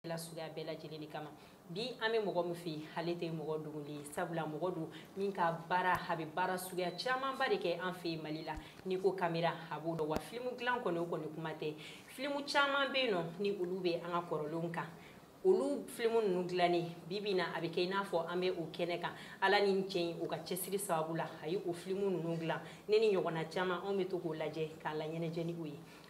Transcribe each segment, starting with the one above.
la suguya bɛɛ lajɛlen de kama bi an bɛ mɔgɔ min fɛ yen ale tɛ mɔgɔ dogolen ye sabula mɔgɔ don min ka baara a bɛ baara suguya camanba de kɛ an fɛ yen mali la n'i ko kamera a b'o dɔn wa filimu dilan kɔni o kɔni kuma tɛ filimu caman bɛ yen nɔ ni olu bɛ an ka kɔrɔlenw kan olu filimu ninnu dilannen bi bi na a bɛ kɛ i n'a fɔ an bɛ o kɛnɛ kan ala ni cɛ in o ka cɛsiri sababu la a ye o filimu ninnu dilan ne ni ɲɔgɔnna caman anw bɛ to k'o lajɛ k'an laɲɛnajɛ ni o ye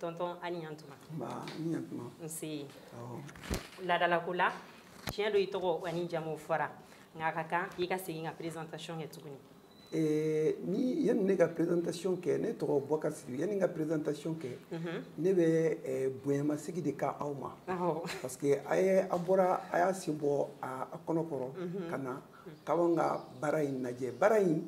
tɔntɔn a ni ɲantuma nse laadalako la tiɲɛ don i tɔgɔ ani jamu fɔra nka a ka kan i ka segin ka présentation kɛ tuguni eh, ni yanni ne ka présentation kɛ ne tɔgɔ bɔkari sidibe yanni ka présentation kɛ mhm. ne bɛ eh, bonyamasegin de kɛ aw ma parce que a ye a bɔra a y'a sen bɔ a kɔnɔ kɔrɔ mhm. ka na k'anw ka baara in lajɛ baara in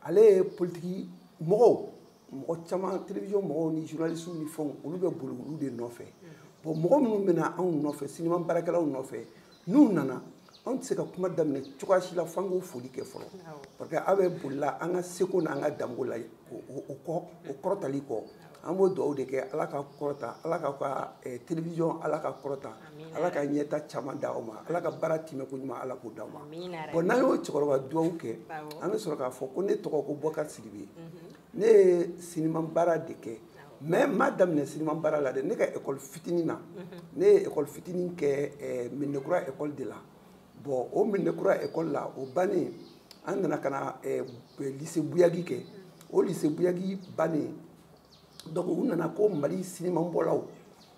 ale ye politiki mɔgɔw mɔgɔ caman télévision mɔgɔw ni journalistes ni fɛnw olu bɛ boli olu de nɔfɛ bon mɔgɔ minnu bɛna anw nɔfɛ sinima baarakɛlaw nɔfɛ n'u nana anw tɛ se ka kuma daminɛ cogoya si la f'an k'u foli kɛ fɔlɔ parce que aw bɛ bolila an ka seko n'an ka dɔnko la o kɔ o kɔrɔtali kɔ an b'o dugawu de kɛ ala k'a kɔrɔta ala ka ka eh, télévision ala k'a kɔrɔta ala ka ɲɛta caman di aw ma ala ka baara tɛmɛ ko ɲuman ala k'o di aw ma bɔn n'an y'o cɛkɔrɔba duwawu kɛ an bɛ sɔrɔ k'a fɔ ko ne tɔgɔ ko bɔkari sidibe mhm. ne ye siniman baara de kɛ mais n m'a daminɛ siniman baara la dɛ ne ka ekɔli fitinin na mhm. ne ye ekɔli fitinin kɛ eh, medinakura ekɔli de la bɔn o medinakura ekɔli la o bannen an nana ka na eh, lise buyagi kɛ o lise buyagi bannen donc u nana ko mali sinimanbɔlaw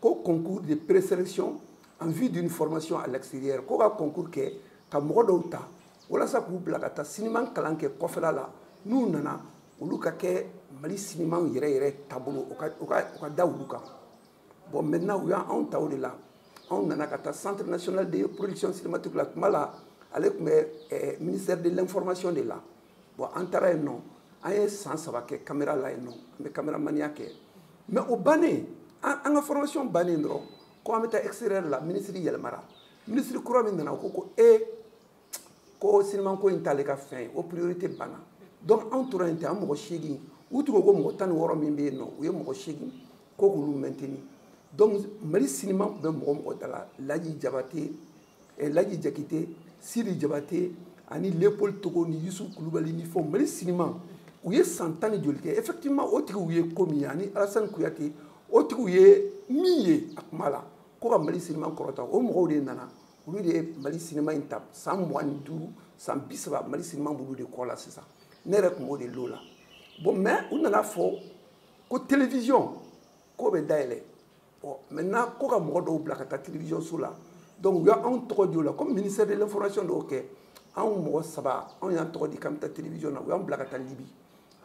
ko concours de présélection en vue d'une formation à l'extérieur ko ka concours kɛ ka mɔgɔ dɔw ta walasa k'u bila ka taa siniman kalan kɛ kɔfɛla la n'u nana olu ka kɛ mali siniman yɛrɛ yɛrɛ taabolo o ka o ka o ka da olu kan bon maintenant u y'anw ta o de la anw nana ka taa centre national de production cinématique la o tuma la ale tun bɛ eh, ministère de l'information de la bon an taara yen nɔ an ye san saba kɛ kamera la yen nɔ an bɛ kameramaniya kɛ mais o bannen an ka formation bannen dɔrɔn ko an bɛ taa extérieur la minisiri yɛlɛmara minisiri kura min nana o ko ko e ko sinimanko in t'ale ka fɛn ye o priorité banna donc anw tora yen ten an mɔgɔ seegin u tun ko ko mɔgɔ tan ni wɔɔrɔ min bɛ yen nɔ u ye mɔgɔ seegin ko k'olu maintenir donc mali siniman tun bɛ mɔgɔ mɔgɔ da la laji jabate eh, laji jakite sidi jabate ani leopold togo ni yusuf kulubali ni fɛnw mali sinima u ye san tan ni joli kɛ effectivement o tigiw ye ko min ye ani alasani kuyate o tigiw ye min ye a kuma la ko ka mali sinima kɔrɔta o mɔgɔw de nana olu de ye mali sinima in ta san mugan ni duuru san bi saba mali sinima b'olu de kɔ la sisan ne yɛrɛ tun b'o de lot la bon mais u nana fɔ ko télévision k'o bɛ dayɛlɛ ɔ maintenant ko ka mɔgɔ dɔw bila ka taa télévision so la donc u y'anw tɔgɔ di o la comme ministère de l'information dɔw kɛ anw mɔgɔ saba anw y'an tɔgɔ di k'an bɛ taa télévision na u y'an bila ka taa libi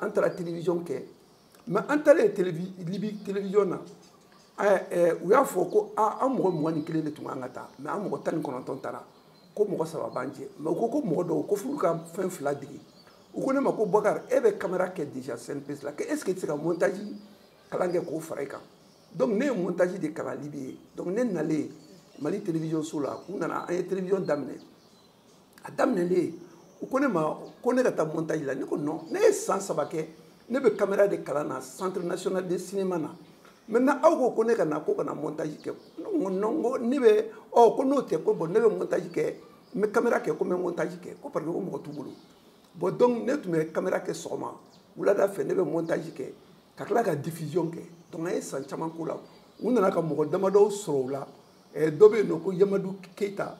an taara télévision kɛ mais an taalen libi télévision na u y'a fɔ ko an mɔgɔ mugan ni kelen de tun kan ka taa mais an mɔgɔ tan ni kɔnɔntɔn taara ko mɔgɔ saba b'an jɛ mais u ko ko mɔgɔ dɔw ko f'u ka fɛn fila dege u ko ne ma ko bakari e bɛ kamera kɛ déjà cnpc la ko est ce que i tɛ se ka montage kalan kɛ k'o fara i kan donc ne ye montage de kalan libi yen donc ne nalen mali télévision so la u nana an ye télévision daminɛ a daminɛlen u ko ne ma ko ne ka taa montage la ne ko non ne ye san saba kɛ ne bɛ caméra de kalan na centre national de cinéma na maintenant aw ko ko ne ka na ko ka na montage kɛ ne ko non ko ne bɛ ɔ ko n'o tɛ ko bon ne bɛ montage kɛ n bɛ caméra kɛ ko n bɛ montage kɛ ko parce que ko mɔgɔ t'u bolo bon donc ne tun bɛ caméra kɛ sɔgɔma wulada fɛ ne bɛ montage kɛ ka tila ka diffusion kɛ donc an ye san caman k'o la u nana ka mɔgɔ damadɔw sɔrɔ u la eh, dɔ bɛ yen nɔ ko yamadu keyita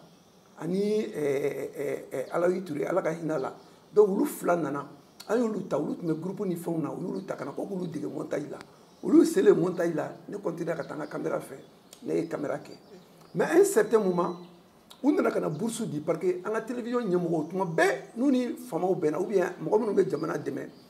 ani eh, eh, alayi ture ala ka hinɛ a la donc olu fila nana an y'olu ta olu tun bɛ groupe ni fɛnw na u y'olu ta ka na ko k'olu dege montage la olu selen montage la ne continuera ka taa n ka kamera fɛ ne ye kamera kɛ mais un certain moment u nana ka na bourse di parce que an ka télévision ɲɛmɔgɔw tuma bɛɛ n'u ni faamaw bɛnna ou bien mɔgɔ minnu bɛ jamana dɛmɛ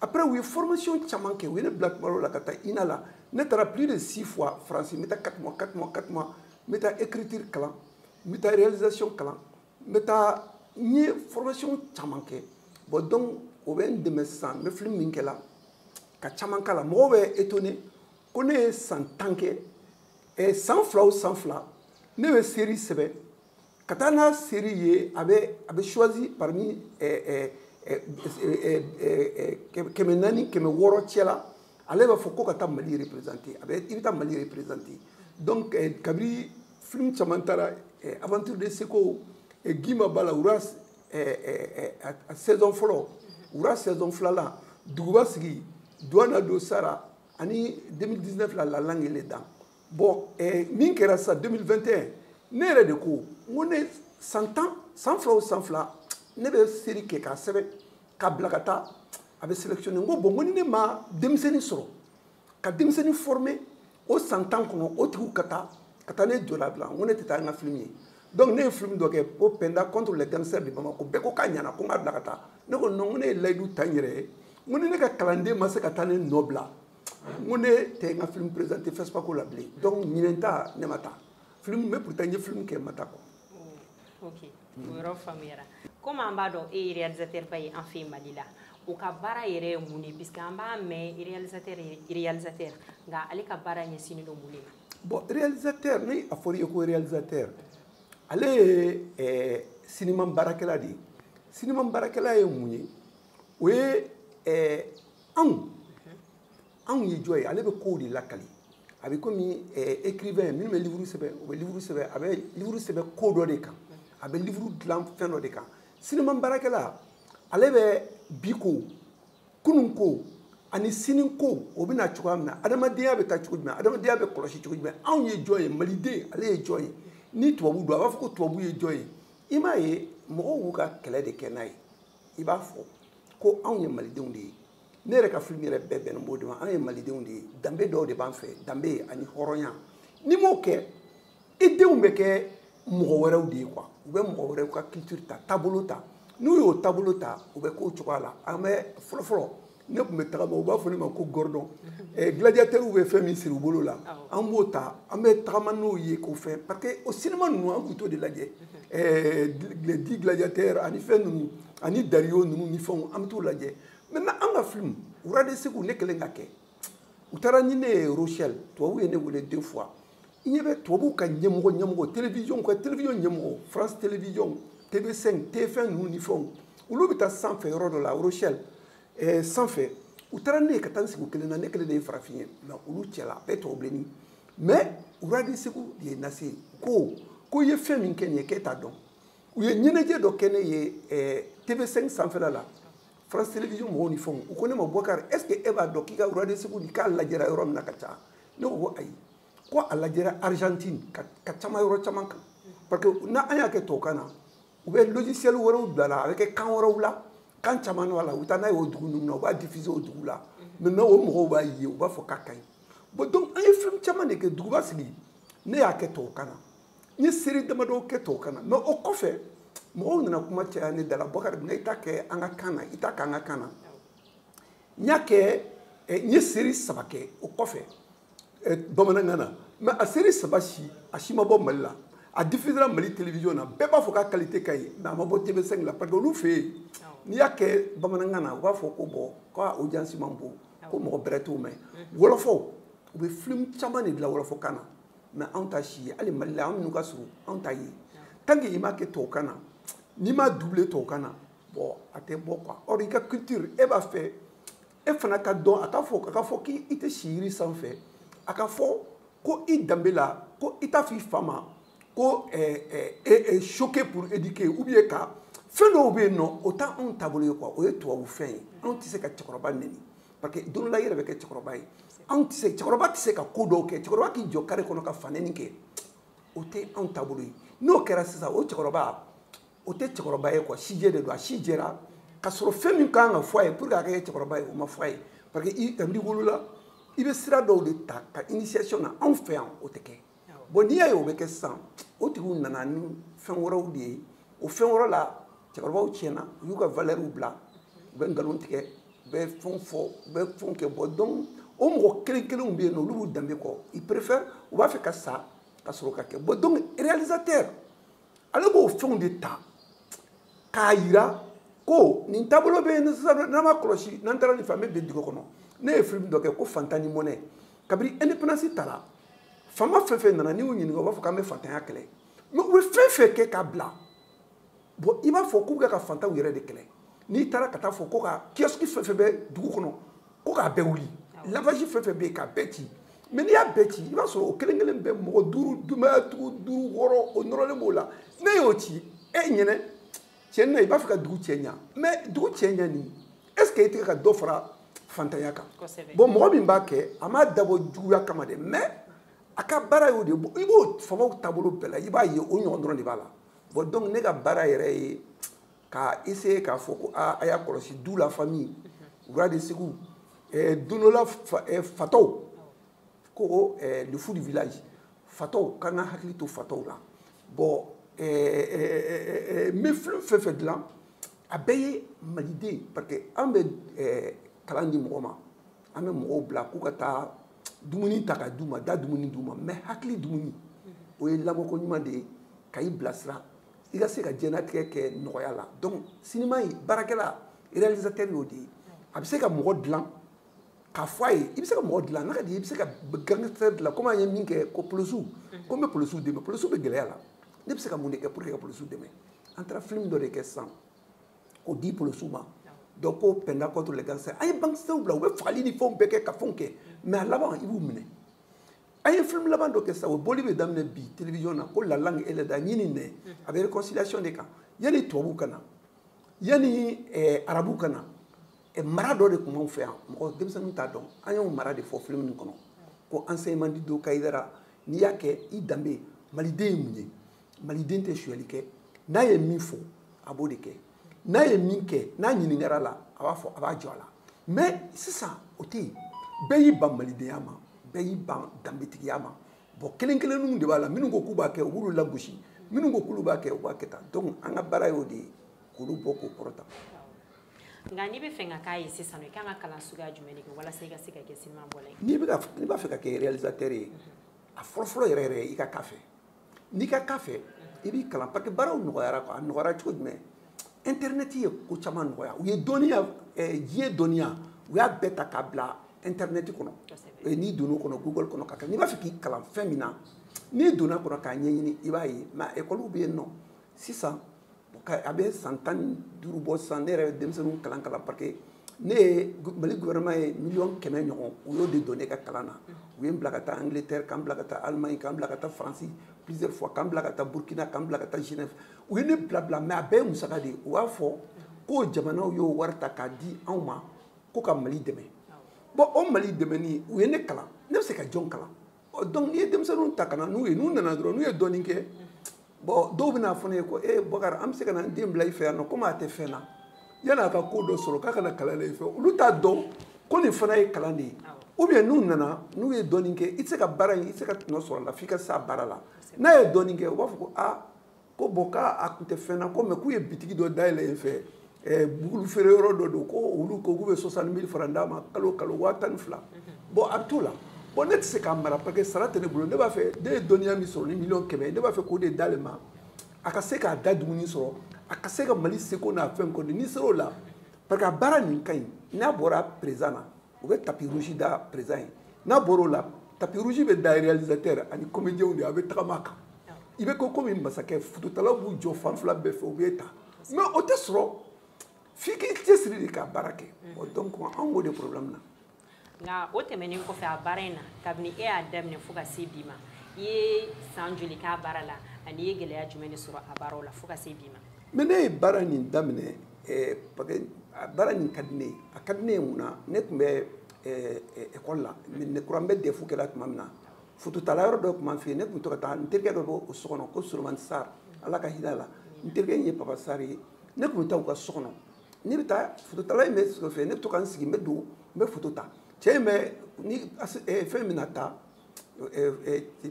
après u ye formation caman kɛ u ye ne bila tuma dɔ la ka taa ina la ne taara plus de six fois france n bɛ taa quatre mois quatre mois quatre mois n bɛ taa écriture kalan n bɛ taa réalisation kalan n bɛ taa n ye formation caman kɛ bon donc o bɛ n dɛmɛ sisan n bɛ film min kɛ la ka caman k'a la mɔgɔw bɛ étonné ko ne ye san tan kɛ san fila o san fila ne bɛ série sɛbɛn ka taa n'a série ye a bɛ a bɛ choisi parmi kɛmɛ naani kɛmɛ wɔɔrɔ cɛla ale b'a fɔ ko ka taa mali représenter a bɛ i bɛ taa mali représenter donc kabiri film caman taara aventure de seko gimba b'a la rois saison fɔlɔ rois saison filanan duguba sigi duwana do sara ani 2019 la la langue et les dents bɔn eh, min kɛra sa 2021 ne yɛrɛ de ko n ko ne san tan san fila o san fila ne bɛ série kɛ k'a sɛbɛn k'a bila ka taa a bɛ sélectionné n ko bɔn ko ni ne ma denmisɛnnin sɔrɔ ka denmisɛnnin former o san tan kɔnɔ o tigiw ka taa ka taa ne nɔna bila n ko ne tɛ taa ni n ka film ye donc ne ye film dɔ kɛ ko penda contre les gangsters de bamako bɛɛ ko k'a ɲana ko n k'a bila ka taa ne ko non ko ne ye layidu ta n yɛrɛ ye n ko ni ne ka kalanden ma se ka taa ne nɔ bila n ko ne tɛ n ka film présente fespaco la bilen donc ɲinan ta ne ma taa film bɛ pourtant n ye film kɛ n ma taa quoi oh, ok o yɔrɔ faamuyara komi an b'a dɔn e ye réalisateur ba ye an fɛ yen mali la o ka baara yɛrɛ ye mun de puisque an b'a mɛn réalisateur réalisateur nka ale ka baara ɲɛsinnen don mun de ma bon réalisateur ni a fɔra i ye ko réalisateur ale ye eh, sinima baarakɛla de ye sinima baarakɛla ye mun ye o ye eh, anw anw ye jɔn ye ale bɛ kow de lakali a bɛ komi écrivain minnu bɛ livre sɛbɛn u bɛ livre sɛbɛn a bɛ livre sɛbɛn ko dɔ de kan a bɛ livre dilan fɛn dɔ de kan sinima baarakɛla ale bɛ bi ko kunun ko ani sini ko o bɛ na cogoya min na adamadenya bɛ taa cogo jumɛn adamadenya bɛ kɔlɔsi cogo jumɛn anw ye jɔn ye maliden ale ye jɔn ye ni tubabu don a b'a fɔ ko tubabu ye jɔn ye i m'a ye mɔgɔw b'u ka kɛlɛ de kɛ n'a ye i b'a fɔ ko anw ye malidenw de ye ne yɛrɛ ka film yɛrɛ bɛɛ bɛnnen b'o de ma anw ye malidenw de ye danbe dɔw de b'an fɛ danbe ani hɔrɔnya n'i m'o kɛ i denw bɛ kɛ mɔgɔ wɛrɛw de ye quoi u bɛ mɔgɔ wɛrɛw ka culture ta taabolo ta n'u y'o taabolo ta u bɛ k'o cogoya la an bɛ fɔlɔfɔlɔ ne tun bɛ tagama u b'a fɔ ne ma ko gordon eh, gladiateurw bɛ fɛn min siri u bolo la an b'o ta an bɛ tagama n'o ye ko fɛn parce que o sinima ninnu an tun t'o de lajɛ eh, les dix gladiateurs ani fɛn ninnu ani dario ninnu ni fɛnw an bɛ t'o lajɛ maintenant an ka film rois de ségou ne kɛlen k'a kɛ u taara ni ne ye rochelle tubabuw ye ne wele deux fois i ɲɛ bɛ tubabuw ka ɲɛmɔgɔ ɲɛmɔgɔ télévision ka télévision ɲɛmɔgɔ france télévision tv5 tf1 ninnu ni fɛnw olu bɛ taa sanfɛ yɔrɔ dɔ la rochelle eh, sanfɛ u taara ne ye ka taa n sigi u kelen na ne kelen de ye farafin ye nka olu cɛla a bɛɛ tubabu bilenni mais rois de ségou de ye n lase ko ko i ye fɛn min kɛ nin ye k'e t'a dɔn u ye ɲɛnajɛ dɔ kɛ ne ye eh, tv5 sanfɛla la france télévision mɔgɔw ni fɛnw u ko ne ma bɔkari est ce que e b'a dɔn k'i ka rois de ségou nin k'a lajɛra yɔrɔ min na ka ca ne ko ko ayi ko a lajɛra argentine ka caman yɔrɔ caman kan parce que n'a an y'a kɛ tubabukan na u bɛ logiciel wɛrɛw bila la a bɛ kɛ kan wɛrɛw la kan caman b'a la u bɛ taa n'a ye o dugu ninnu na u b'a diffuser o dugu la maintenant o mɔgɔw b'a ye u b'a fɔ k'a ka ɲi bon donc an ye fɛn caman de kɛ duguba sigi ne y'a kɛ tubabukan na n ye série damadɔ kɛ tubabukan na mais o kɔfɛ mɔgɔw nana kuma caya ne dala bɔkari munna i t'a kɛ an ka kan na i t'a k'an ka kan na n y'a kɛ n ye série saba kɛ o kɔfɛ eh, bamanankan na mais a série saba si a si ma bɔ mali la a diffusera mali télévision na bɛɛ b'a fɔ k'a qualité ka ɲi mais a ma bɔ tv5 la parce que olu fɛ yen n'i y'a kɛ bamanankan na u b'a fɔ ko bon k'a audience man bon ko mɔgɔ bɛrɛ t'o mɛn wɔlɔfɔw u bɛ film caman de dilan wɔlɔfɔkan na mais anw t'a si ye hali mali la anw minnu ka surun anw t'a ye tant que i m'a kɛ tubabukan na n'i m'a double tubabukan na bon a tɛ bɔ quoi or i ka culture e b'a fɛ e fana ka dɔn a ka fɔ a ka fɔ k'i tɛ si yiri sanfɛ a ka fɔ ko i danbe la ko i t'a fɔ i fa ma ko eh, eh, eh, choquer pour éduquer ou bien ka fɛn dɔw bɛ yen nɔ o tɛ anw taabolo ye quoi o ye tubabu fɛn ye anw tɛ se ka cɛkɔrɔba neni parce que don dɔ la i yɛrɛ bɛ kɛ cɛkɔrɔba ye anw tɛ se cɛkɔrɔba tɛ se ka ko dɔw kɛ cɛkɔrɔba k'i jɔ kare kɔnɔ ka fanɛni kɛ o tɛ anw taabolo ye n'o kɛra sisan o cɛkɔrɔba o tɛ cɛkɔrɔba ye quoi sijɛ de don a si jɛra ka sɔrɔ fɛn min kan ka fɔ a ye pour que a ka kɛ cɛkɔrɔba ye o ma fɔ a ye parce que i kabini wolola i bɛ sira dɔw de ta ka initiation na anw fɛ yan o tɛ kɛ bon n'i y'a ye o bɛ kɛ sisan o tigiw nana ni fɛn wɛrɛw de ye o fɛn wɛrɛ la cɛkɔrɔbaw tiɲɛna u y'u ka valɛriw bila u bɛ nkalon tigɛ u bɛ fɛnw fɔ u bɛ fɛnw kɛ bɔn donc o mɔgɔ kelen kelenw bɛ yen nɔ olu b'u danbe kɔ ils préfèrent u b'a fɛ ka sa ka sɔrɔ ka kɛ bɔn donc réalisateur ale b'o fɛnw de ta k'a yira ko nin taabolo bɛ yen sisan n'an m'a kɔlɔsi n'an taara nin fɛ an bɛ bin dingɛ kɔnɔ ne ye filimu dɔ kɛ ko fantan ni mɔnɛ kabini indépendance tara fama fɛn fɛn nana n'i y'u ɲininka u b'a fɔ k'an bɛ fantanya kɛlɛ mɛ u bɛ fɛn fɛn kɛ k'a bila bɔn i b'a fɔ k'u bɛ ka fantanw yɛrɛ de kɛlɛ n'i taara ka taa fɔ ko ka kiyɔsiki fɛn fɛn bɛ dugu kɔnɔ ko k'a bɛɛ wuli lavaji fɛn fɛn bɛ yen k'a bɛɛ ci mɛ n'i y'a bɛɛ ci i b'a sɔrɔ o kelen kelen bɛɛ mɔgɔ duuru denbayatigi duuru wɔɔrɔ o nɔrɔlen b'o la n'e y'o ci e ɲɛ na tiɲɛ na i b'a fɛ ka dugu cɛɲa mɛ dugu cɛɲa nin est ce que i tɛ ka dɔ fara fantanya kan bɔn mɔgɔ min b'a kɛ a m'a dabɔ juguya kama dɛ mɛ a ka baara y'o de i b'o famaw taabolo bɛɛ la i b'a ye o ɲɔgɔn dɔrɔn de b'a la bɔn donc ne ka baara yɛrɛ ye k'a essayer k'a fɔ ko aa a y'a kɔlɔsi du la famille rois de segu eh, don dɔ la fa, eh, fatɔw ko eh, le fou du village fatɔw k'an ka hakili to fatɔw la bɔn eh, eh, eh, eh, n bɛ film fɛn fɛn dilan a bɛɛ ye maliden parce que an bɛ eh, kalan di mɔgɔ ma an bɛ mɔgɔw bila k'u ka taa dumuni ta ka d'u ma da dumuni d'u ma mɛ hakili dumuni o ye lamɔko ɲuman de ye ka i bilasira i ka se ka diɲɛnatigɛ kɛ nɔgɔya la donc sinima baarakɛla réalisateur y'o de ye a bɛ se ka mɔgɔ dilan k'a fɔ a ye i bɛ se ka mɔgɔ dilan n'a ka di i bɛ se ka gangster dilan komi an ye min kɛ ko polisiw ko n bɛ polisiw dɛmɛ polisiw bɛ gɛlɛya la ne bɛ se ka mun de kɛ pour que ka polisiw dɛmɛ an taara film dɔ de kɛ sisan k'o di polisiw ma dɔ ko pɛnda contre les gangsters an ye gangsters bila u bɛ fagali ni fɛnw bɛɛ kɛ ka fɛnw kɛ mais a laban i b'u minɛ an ye film laban dɔ kɛ sisan o boli bɛ daminɛ bi télévision na ko la langue et les dents ɲin ni nɛn a bɛ réconciliation de kan yanni tubabu ka na yanni eh, arabu ka na eh, mara dɔ de tun b'anw fɛ yan mɔgɔ denmisɛnninw t'a dɔn an y'o mara de fɔ film nin kɔnɔ ko enseignement de do kayidara n'i y'a kɛ i danbe maliden ye mun ye maliden tɛ sonyali kɛ n'a ye min fɔ a b'o de kɛ n'a ye min kɛ n'a ɲininkara la a b'a fɔ a b'a jɔ a la mais sisan o tɛ yen bɛɛ y'i ban malidenya ma bɛɛ y'i ban danbetigiya ma bɔn kelen kelenninw de b'a la minnu ko k'u b'a kɛ u b'olu lagosi minnu ko k'olu b'a kɛ u b'a kɛ tan donc an ka baara y'o de ye k'olu bɔ k'o kɔrɔta nka n'i b'a fɛ ka k'a ye sisan i kan ka kalan suguya jumɛn de kɛ walasa i ka se ka kɛ sinima bɔla ye n'i b'a fɛ ka kɛ réalisateur ye a fɔlɔfɔlɔ yɛrɛ yɛrɛ i ka k'a fɛ n'i ka k'a fɛ i b'i kalan parce que baaraw nɔgɔyara quoi a nɔgɔyara cogo jumɛn internet ye ko caman nɔgɔya u ye dɔnniya eh, diɲɛ dɔnniya u y'a bɛɛ ta k'a bila internet kɔnɔ eh, n'i donn'o kɔnɔ google kɔnɔ ka kɛ n'i b'a fɛ k'i kalan fɛn min na n'i donna kɔnɔ k'a ɲɛɲini i b'a ye mais ekɔliw bɛ yen nɔ sisan a bɛ san tan ni duuru bɔ sisan ne yɛrɛ bɛ denmisɛnninw kalan kalan parce que ne ye mali gouvernement ye miliyɔn kɛmɛ ɲɔgɔn u y'o de don ne ka kalan na u ye n bila ka taa angleterre ka n bila ka taa allemagne ka n bila ka taa faransi plusieurs fois ka n bila ka taa burkina ka n bila ka taa genève u ye ne bila bila mais a bɛɛ ye musaka de ye u b'a fɔ k'o jamanaw y'o wari ta k'a di anw ma ko ka mali dɛmɛ bɔn o mali dɛmɛni u ye ne kalan ne bɛ se ka jɔn kalan ɔ donc n'i ye denmisɛnninw ta ka na n'u ye n'u nana dɔrɔn n'u ye dɔɔni kɛ bɔn dɔw bɛna fɔ ne ye ko e bakari an bɛ se ka na n den bila i fɛ yan nɔ komi a tɛ fɛn na yanni a ka ko dɔ sɔrɔ k'a ka na kalan na i fɛ olu t'a dɔn ko nin fana ye kalan de ye ou bien n'u nana n'u ye dɔɔni kɛ i tɛ se ka baara in i tɛ se ka tɔnɔ sɔrɔ a la f'i ka s'a baara la n'a ye dɔɔni kɛ u b'a fɔ ko aa ko bɔn k'a a kun tɛ fɛn na ko mais k'u ye bitigi dɔ dayɛlɛ yen fɛ eh, bugulu feere yɔrɔ dɔ don ko olu ko k'u bɛ soixante mille francs d'a ma kalo kalo waa tan ni fila mhm. bɔn a bɛ t'o la bɔn ne tɛ se k'a mara parce que sara tɛ ne bolo ne b'a fɛ ne ye dɔnniya min sɔrɔ ni miliyɔn kɛmɛ ne b'a fɛ k'o de d'ale ma a ka se k'a da dumuni sɔrɔ a ka se ka mali seko n'a fɛn kɔni n'i ser'o la parce que a baara nin ka ɲi n'a bɔra président na u bɛ tapis rouge da président ye n'a bɔr'o la tapis rouge bɛ da réalisateur ani comédienw de a bɛ tagama a kan i bɛ kɛ komi masakɛ fototalaw b'u jɔ fan fila bɛɛ fɛ u b'e ta mais o tɛ sɔrɔ f'i k'i cɛsiri de ka baara kɛ bon donc an b'o de problème na nka o tɛmɛnen kɔfɛ a baara in na kabini e y'a daminɛ fo ka se bi ma i ye san joli k'a baara la ani i ye gɛlɛya jumɛn de sɔrɔ a baaraw la fo ka se bi ma mais ne ye baara nin daminɛ eh, a baara nin ka di ne ye a ka di ne ye mun na ne tun bɛ ekɔli eh, eh, la ne kura n bɛ defu kɛ la tuma min na fototala yɔrɔ dɔ tun b'an fɛ yen ne tun to ka taa n terikɛ dɔ b'o o so kɔnɔ ko solomani sar ala ka hin'a la n terikɛ in ye papa sar ye ne tun bɛ taa u ka so kɔnɔ ne bɛ taa fototala in bɛ sigi fɛ ne bɛ to ka n sigi n bɛ don n bɛ foto ta cɛ in bɛ ni fɛn bɛna taa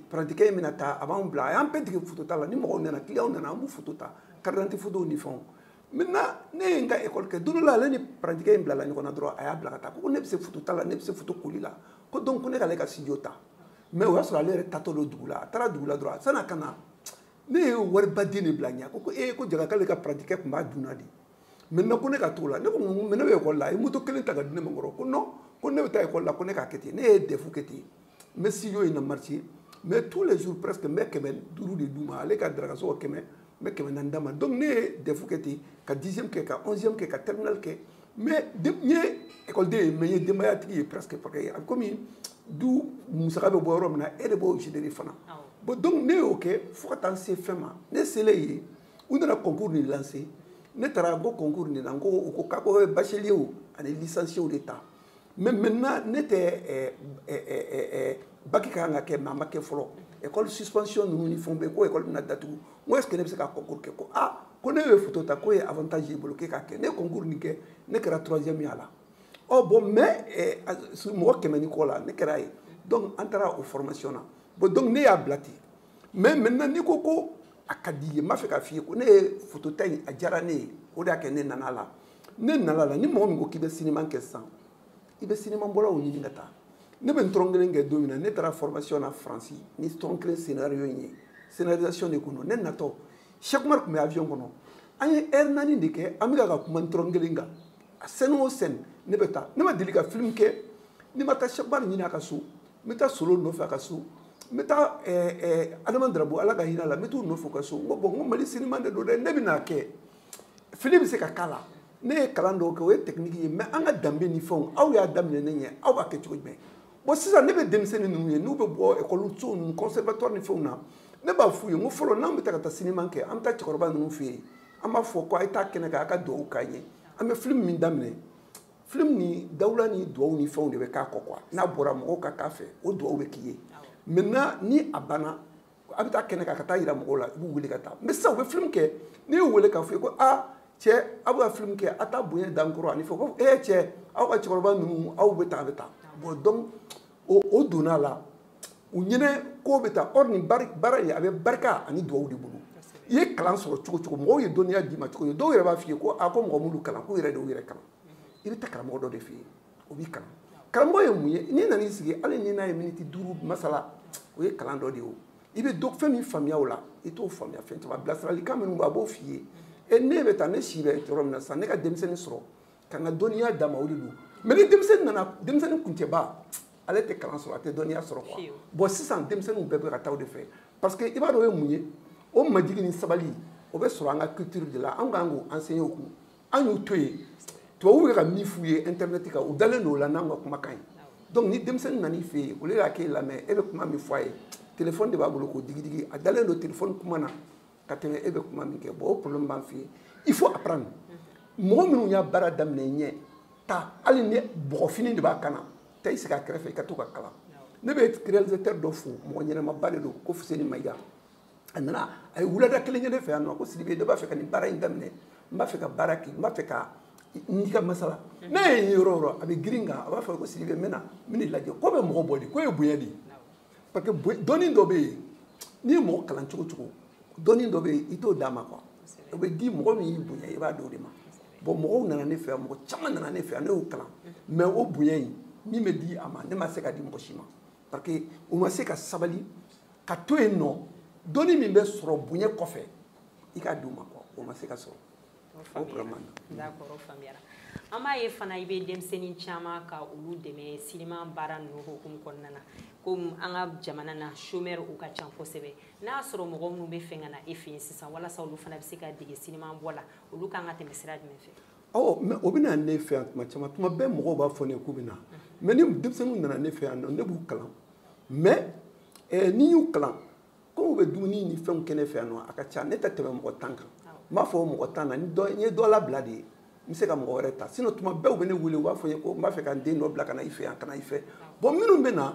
parantikɛ in bɛna taa a b'an bila a y'an bɛɛ dege foto ta la ni mɔgɔw nana kiliyanw nana an b'u foto ta karidanti fotow ni fɛnw maintenant ne ye n ka ekɔli kɛ don dɔ la ale ni parantikɛ in bilala ɲɔgɔn na dɔrɔn a y'a bila ka taa ko ne bɛ se foto ta la ne bɛ se foto koli la ko donc ko ne k'ale ka studio ta mais o y'a sɔrɔ ale yɛrɛ taatɔ don dugu la a taara dugu la dɔrɔn san'a ka na ne ye wariba de bila a ɲɛ ko ko ee ko jaga k'ale ka parantikɛ tun b'a dunna de maintenant ko ne ka t'o la ne ko mais ne bɛ ekɔli la a ye moto kelen ta k'a di ne ma kɔrɔ ko non ko ne bɛ taa ekɔli la ko ne k'a kɛ ten ne ye dɛfu kɛ ten n bɛ studio in na marché mais tous les jours presque n bɛ kɛmɛ duuru de d'u ma ale ka darakasɔngɔ kɛmɛ n bɛ kɛmɛ naani d'a ma donc ne ye dɛfu kɛ ten ka dixième kɛ ka onzième kɛ ka terminale kɛ mais n ye ekɔliden ye mais n ye denbayatigi ye presque parce que a bɛ komi du musaka bɛ bɔ yɔrɔ min na e de b'o gérer fana bon donc ne y'o kɛ fo ka taa n se fɛn ma ne selen yen u nana concours nin lancer ne taara n ko concours nin na n ko u ko k'a ko bacheliers ani licenciés de ta mais maintenant ne tɛ eh, eh, eh, baki ka kan ka kɛ mais a ma kɛ fɔlɔ école suspension ninnu ni fɛnw bɛ ko école bɛna datugu n ko est ce que ne bɛ se ka concours kɛ ko ah ko ne ye photo ta k'o ye avantage y'i bolo k'e k'a kɛ ne ye concours nin kɛ ne kɛra troisième ye a la ɔ bon mais mɔgɔ kɛmɛ ni kɔ la ne kɛra ye donc an taara o formation na bon donc ne y'a bila ten mais maintenant n'i ko ko a ka di ye n b'a fɛ k'a f'i ye ko ne ye foto ta in a diyara ne ye o de y'a kɛ ne nana a la ne nana a la ni mɔgɔ min ko k'i bɛ sinima kɛ sisan i bɛ sinima bɔlaw ɲini ka taa ne bɛ Ntɔrɔnkelen kɛ don min na ne taara formation na faransi ni Ntɔrɔnkelen scénario in ye scénarisation de tun don ne natɔ Cheikh Oumar tun bɛ avion kɔnɔ an ye heure naani de kɛ an bɛ ka ka kuma Ntɔrɔnkelen kan a scène o scène ne bɛ taa ne ma deli ka film kɛ ni n ma taa Cheikh Oumar ɲini a ka so n bɛ taa solo nɔfɛ a ka so n bɛ taa adama darabo ala ka hinɛ a la n bɛ t'u nɔfɛ u ka so n ko bɔn n ko mali sinima de don dɛ ne bɛ n'a kɛ fili bɛ se ka k'a la ne ye kalan dɔw kɛ o ye tɛkiniki ye mɛ an ka danbe ni fɛnw aw y'a daminɛ ne ɲɛ aw b'a kɛ cogo jumɛn bɔn sisan ne bɛ denmisɛnnin ninnu ye n'u bɛ bɔ ekɔliso ninnu conservatoire ni fɛnw na ne b'a f'u ye n ko fɔlɔ n'an bɛ taa ka taa sinima kɛ an bɛ taa cɛkɔrɔba ninnu fɛ yen an b'a fɔ ko a ye taa kɛnɛ kan a ka dugawu k'an ye an bɛ filimu min daminɛ film ni dawula ni duwawu ni fɛnw de bɛ k'a kɔ quoi n'a bɔra mɔgɔw ka k'a fɛ o duwawu bɛ k'i ye maintenant ni a banna a bɛ taa kɛnɛ kan ka t'a yira mɔgɔw la i b'u wele ka taa mais sisan u bɛ film kɛ n'i y'u wele k'a f'u ye ko a cɛ aw bɛ ka film kɛ a t'a bonya d'an kɔrɔ ani fɛn ko ee cɛ aw ka cɛkɔrɔba ninnu aw bɛ tan a bɛ tan bon donc o o donna a la u ɲinɛ ko bɛ taa or nin baara in a bɛ barika ani duwawu de bolo i ye kalan sɔrɔ cogo o cogo mɔgɔw ye dɔnniya d'i ma cogo o cogo dɔw yɛrɛ b'a f'i ye ko a ko mɔgɔ m'u kalan k'u yɛrɛ de y'u yɛrɛ kalan i bɛ taa karamɔgɔ dɔ de fɛ yen o b'i kalan karamɔgɔ ye mun ye n'i nan'i sigi hali ni n'a ye miniti duuru masala o ye kalan dɔ de ye o i bɛ dɔ fɛn min faamuya o la i t'o faamuya fɛn caman bilasiralikan minnu b'a b'o f'i ye e ne bɛ taa ne si bɛ yɔrɔ min na sisan ne ka denmisɛnnin sɔrɔ ka n ka dɔnniya d'a ma o de don mais ni denmisɛnnin nana denmisɛnnin kuncɛba ale tɛ kalan sɔrɔ a tɛ dɔnniya sɔrɔ quoi bon sisan denmisɛnninw bɛɛ bɛ ka taa o de fɛ parce que i b'a dɔn o ye mun ye o majigi ni sabali o bɛ sɔrɔ an ka culture de la an kan k'o enseigner u kun an y'u to yen tubabuw bɛ ka min f'u ye internet kan u dalen don o la n'an ka kumakan ye donc ni denmisɛnnin nan'i fɛ yen au lieu a k'e lamɛn e bɛ kuma min fɔ a ye telefɔni de b'a bolo k'o digidigi a dalen don telefɔni kuma na ka tɛmɛ e bɛ kuma min kɛ bon o problème b'an fɛ yen il faut apprendre mɔgɔ minnu ye baara daminɛ i ɲɛ taa hali ni bɔgɔfini de b'a kan na taa i sigi a kɛrɛfɛ i ka to ka kalan ne bɛ réalisateur dɔ fo mɔgɔ ɲɛnamaba de don ko fuseni mayiga a nana a ye wulada kelen kɛ ne fɛ yan nɔ ko sidibe ne b'a fɛ ka nin baara in daminɛ n b'a fɛ ka baara kɛ n b'a fɛ ka n'i ka masala ne ye yɔrɔ yɔrɔ a bɛ girin ka na a b'a fɔ ko sidibe n bɛna n bɛna i lajɛ ko bɛ mɔgɔ bɔ de k'o ye bonya de ye parce que dɔnni dɔ bɛ yen n'i ye mɔgɔ kalan cogo cogo dɔnni dɔ bɛ yen i t'o d'a ma quoi o bɛ di mɔgɔ min y'i bonya i b'a d'o de ma bon mɔgɔw nana ne fɛ yan mɔgɔ caman nana ne fɛ yan ne y'u kalan mais o bonya in min bɛ di a ma ne ma se k'a di mɔgɔ si ma parce que u ma se ka sabali ka to yen nɔ dɔnni min bɛ sɔrɔ bonya kɔfɛ i k'a d'u ma quoi o ma se ka sɔrɔ faamuyara an b'a ye fana i bɛ denmisɛnnin caman ka olu dɛmɛ sinima baara ninnu hukumu kɔnɔna na komi an ka jamana na chômeur u ka ca kosɛbɛ n'a y'a sɔrɔ mɔgɔ minnu b'a fɛ ka na e fɛ yen sisan walasa olu fana bɛ se ka dege sinima bɔ la olu kan ka tɛmɛ sira jumɛn fɛ ɔ mais u bɛ na ne fɛ yan tuma caman tuma bɛɛ mɔgɔw b'a fɔ ne k'u bɛ na mais ni denmisɛnninw nana ne fɛ yan nɔ ne b'u kalan mais eh, n'i y'u kalan komi u bɛ dumuni ni fɛnw kɛ ne fɛ yan nɔ a ka ca ne tɛ tɛmɛ mɔgɔ tan kan n b'a fɔ mɔgɔ tan na n ye dɔ labila de ye n bɛ se ka mɔgɔ wɛrɛ ta sinon tuma bɛɛ u bɛ ne wele u b'a fɔ n ye ko n b'a fɛ ka n den dɔ bila ka na i fɛ yan ka na i fɛ bon minnu bɛ na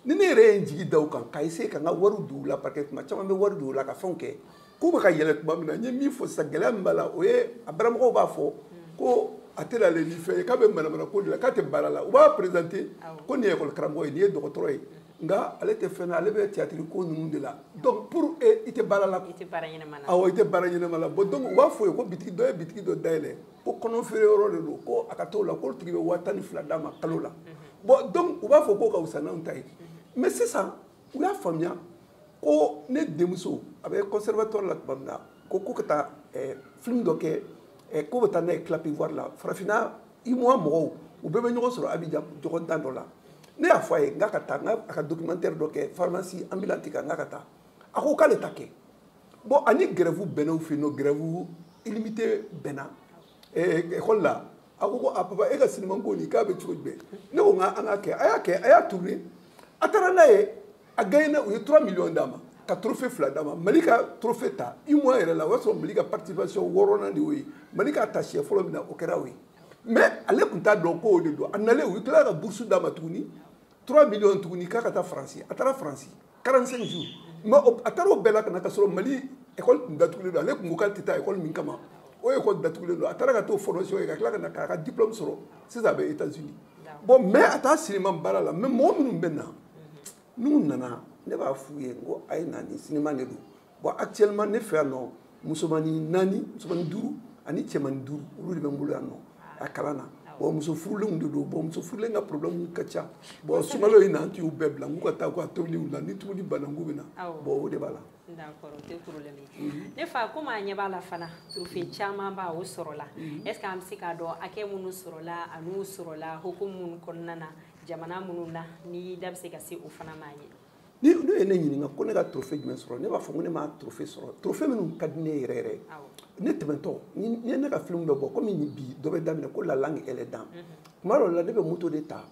ni ne yɛrɛ ye n jigi da u kan ka essayer ka n ka wariw don u la parce que tuma caman n bɛ wari don u la ka fɛnw kɛ k'u bɛ ka yɛlɛ tuma min na n ye min fɔ sisan gɛlɛya min b'a la o ye a baramɔgɔw b'a fɔ ko a tɛ ale ni fɛn ye k'a bɛ manamana ko de la k'a tɛ baara la u b'a présenter ko nin ye école karamɔgɔ ye nin ye dɔgɔtɔrɔ ye nka ale tɛ fɛn na ale bɛ tiyatiri ko ninnu de la donc pour eux i tɛ baara la i tɛ baara ɲɛnama la awɔ i tɛ baara ɲɛnama la bon donc u b'a fɔ a ye ko bitigi dɔ ye bitigi dɔ dayɛlɛ ko kɔnɔ feere yɔrɔ de don ko a ka t'o la k'o tigi bɛ waa tan ni fila d'a ma kalo la bon donc u b'a fɔ k'o ka fisa n'anw ta ye mais sisan u y'a faamuya ko ne denmuso a bɛ conservatoire la tuma min na ko k'u ka taa film dɔ kɛ k'u bɛ taa n'a ye clap ivoire la farafinna uemoa mɔgɔw u bɛɛ bɛ ɲɔgɔn sɔrɔ abijan ɲɔgɔndan dɔ la ne y'a fɔ a ye n k'a ka taa n k'a ka documentaire dɔ kɛ pharmacie ambulante kan n k'a ka taa a ko k'ale t'a kɛ bon ani grève bɛnn'u fɛ yen nɔ grève illimité bɛnna école la a ko ko a papa e ka sinimanko nin k'a bɛ cogo jumɛn ne ko n ka an k'a kɛ a y'a kɛ a y'a tourner a taara n'a ye a gagnera u ye 3 millions d'a ma ka trophée fila d'a ma mali ka trophée ta uemoa yɛrɛ la o y'a sɔrɔ mali ka participation wɔɔrɔnan de y'o ye mali k'a ta siɲɛ fɔlɔ min na o kɛra o ye mais ale tun t'a dɔn ko o de don a nalen u tilala ka bourse d'a ma tuguni 3 millions tuguni k'a ka taa faransi a taara faransi 45 jours mais a taara o bɛɛ la ka na k'a sɔrɔ mali école tun datugulen don ale tun ko k'ale tɛ taa école min kama o école datugulen don a taara ka t'o formation kɛ ka tila ka na k'a ka diplôme sɔrɔ sisan a bɛ états unis bon mɛ a taa sinima baara la mɛ mɔgɔ minnu bɛ na n'u nana ne b'a f'u ye n ko a ye na ni sinima de don bon actuellement ne fɛ yan nɔ musomani naani musomani duuru ani cɛmani duuru olu de bɛ n bolo yan nɔ a kalan na bon muso furulenw de don bon muso furulen ka problème ka ca bon sunkalo in na an tun y'u bɛɛ bila n k'u ka taa k'u ka tobiliw la ni tobili banna n k'u bɛ na bon o de b'a la ne fa komi an ɲɛ b'a la fana trofe camanba o sɔrɔla mhm. est ce que an bɛ se k'a dɔn hakɛ minnu sɔrɔla an'u sɔrɔla hukumu minnu kɔnɔna na jamana minnu na n'i da bɛ se ka se o fana ma ye ni n'u ye ne ɲininka ko ne ka trofe jumɛn sɔrɔ ne b'a fɔ ko ne ma trofe sɔrɔ trofe minnu ka di ne yɛrɛ yɛrɛ ne tɛmɛtɔ ni ye ne ka filimu bɛ bɔ komi bi dɔ bɛ daminɛ ko la langue et les dents tuma dɔw la ne bɛ moto de ta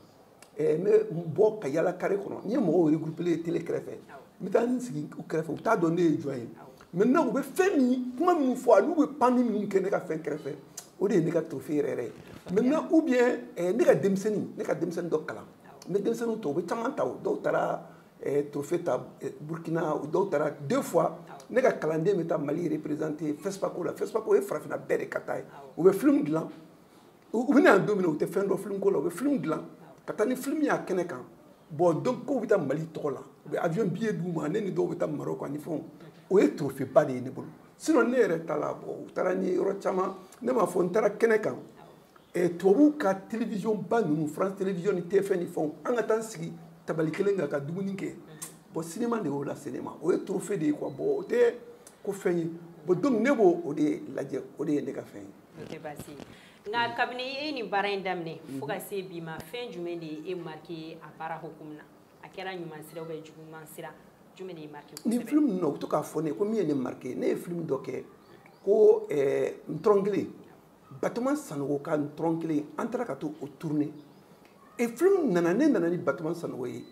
Eh, n bɛ bɔ ka yala kare kɔnɔ n ye mɔgɔw regroupélen ye tele kɛrɛfɛ n bɛ taa n sigi u kɛrɛfɛ u t'a dɔn ne ye jɔn ye maintenant u bɛ fɛn min kuma minnu fɔ ani u bɛ panni minnu kɛ ne ka fɛn kɛrɛfɛ o de ye ne ka trophée yɛrɛ yɛrɛ ye maintenant ou bien eh, ne ka denmisɛnnin ne ka denmisɛnnin dɔ kalan n bɛ denmisɛnninw tɔ u bɛ caman ta o dɔw taara eh, trophée ta burkina u dɔw taara deux fois ne ka kalanden bɛ taa mali représenter fespaco la fespaco ye farafinna bɛɛ de ka ta ye u bɛ film dilan u bɛ na don min na u tɛ fɛn dɔn film ko la u bɛ film dilan ka taa ni film y'a kɛnɛ kan bɔn donc u bɛ taa mali tɔgɔ la u bɛ avion billet d'u ma ne ni dɔw bɛ taa maroc ani fɛnw o ye trophée ba de ye ne bolo sinon ne yɛrɛ ta la bɔn u taara n ye yɔrɔ caman ne m'a fɔ n taara kɛnɛ kan eh, tubabuw ka télévision ba ninnu france télévision ni tf1 ni fɛnw an ka taa n sigi tabali kelen kan ka dumuni kɛ bɔn sinema de y'o lase ne ma o ye trophée de ye quoi bɔn o tɛ ko fɛn ye bɔn donc ne b'o o de lajɛ o de ye ne ka fɛn ye nka kabini e ni baara in daminɛ fo ka se bi ma fɛn jumɛn de ye e marqué ye a baara hukumu na a kɛra ɲuman sira ou bien juguman sira jumɛn de y'i marqué kosɛbɛ nin film ninnu na u bɛ to k'a fɔ ne ye ko min ye ne marqué ne ye film dɔ kɛ ko eh, ntɔrɔnkelen batoma sanogo ka ntɔrɔnkelen an taara ka t'o tourner e film nana ne nana ni batoma sanogo ye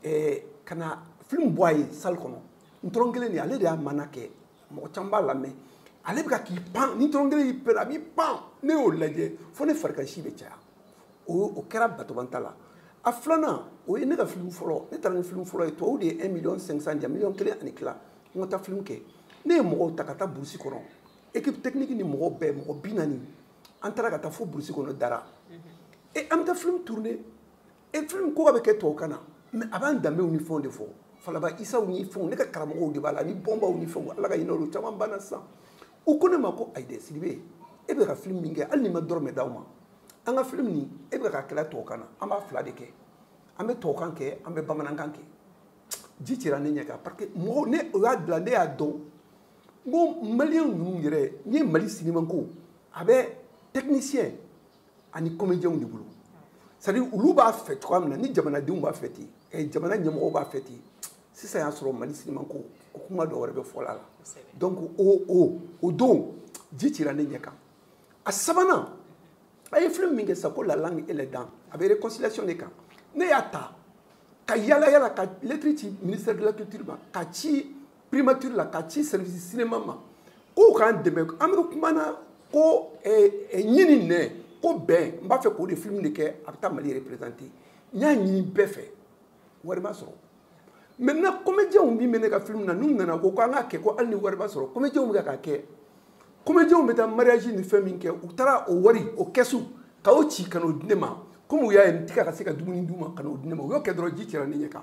eh, ka na film bɔ a ye salle kɔnɔ ntɔrɔnkelen de ale de y'a maana kɛ mɔgɔ caman b'a lamɛn ale bɛ ka k'i pan ni ntɔrɔnkelen y'i pɛrɛn a b'i pan ne y'o lajɛ fo ne farikansi bɛ caya o o kɛra batoma ta la a filanan o ye ne ka filimu fɔlɔ ne taara ni filimu fɔlɔ ye tubabu de ye 1 million 500 di yan miliyɔn kelen ani tila n ka taa filimu kɛ ne ye mɔgɔw ta ka taa burusi kɔnɔ ekipe tekiniki ni mɔgɔw bɛɛ mɔgɔ bi naani an taara ka taa fo burusi kɔnɔ dara e an bɛ taa filimu turune e film ko k'a bɛ kɛ tɔw kan na mais a b'an danbew ni fɛnw de fɔ falaba isaw ni fɛnw ne ka karamɔgɔw de b'a la ni bɔnbaw ni fɛnw ala ka hinɛ olu caman banna sisan u ko ne ma ko ayidɛ sidibe e bɛ ka film min kɛ hali n'i ma dɔrɔmɛ d'an ma an ka film nin e bɛ ka kɛla tɔw kan na an b'a fila de kɛ an bɛ tɔw kan kɛ an bɛ bamanankan kɛ ji cira ne ɲɛ kan parce que mɔgɔw ne o y'a bila ne y'a dɔn n ko maliyɛn ninnu yɛrɛ n'i ye mali sinimanko a bɛ technicien ani comédiens de bolo c'est à dire olu b'a fɛ cogoya min na ni jamanadenw b'a fɛ ten eh, jamana ɲɛmɔgɔw b'a fɛ ten sisan y'a sɔrɔ mali sinima ko o kuma dɔ wɛrɛ bɛ fɔla la donc o o o don ji cira ne ɲɛ kan a sabanan a ye film min kɛ sisan ko la langue et les dents a bɛ réconciliation de kan ne y'a ta ka yala yala ka lettre ci ministère de la culture ma ka ci primature la ka ci service cinéma ma k'u k'an dɛmɛ an bɛ kuma na ko eh, eh, ɲin ni nɛn ko bɛn n b'a fɛ k'o de film de kɛ a bɛ taa mali représenter n y'a ɲini bɛɛ fɛ wari ma sɔrɔ maintenant comédiens min bɛ ne ka film na ninnu nana ko ko an k'a kɛ ko hali ni wari ma sɔrɔ comédiens bɛ ka kɛ comédiens bɛ taa mariage ni fɛn min kɛ u taara o wari o kɛsu ka o ci ka n'o di ne ma komi u y'a ye n tɛ ka se ka dumuni d'u ma ka n'o di ne ma u y'o kɛ dɔrɔn ji cira ne ɲɛ kan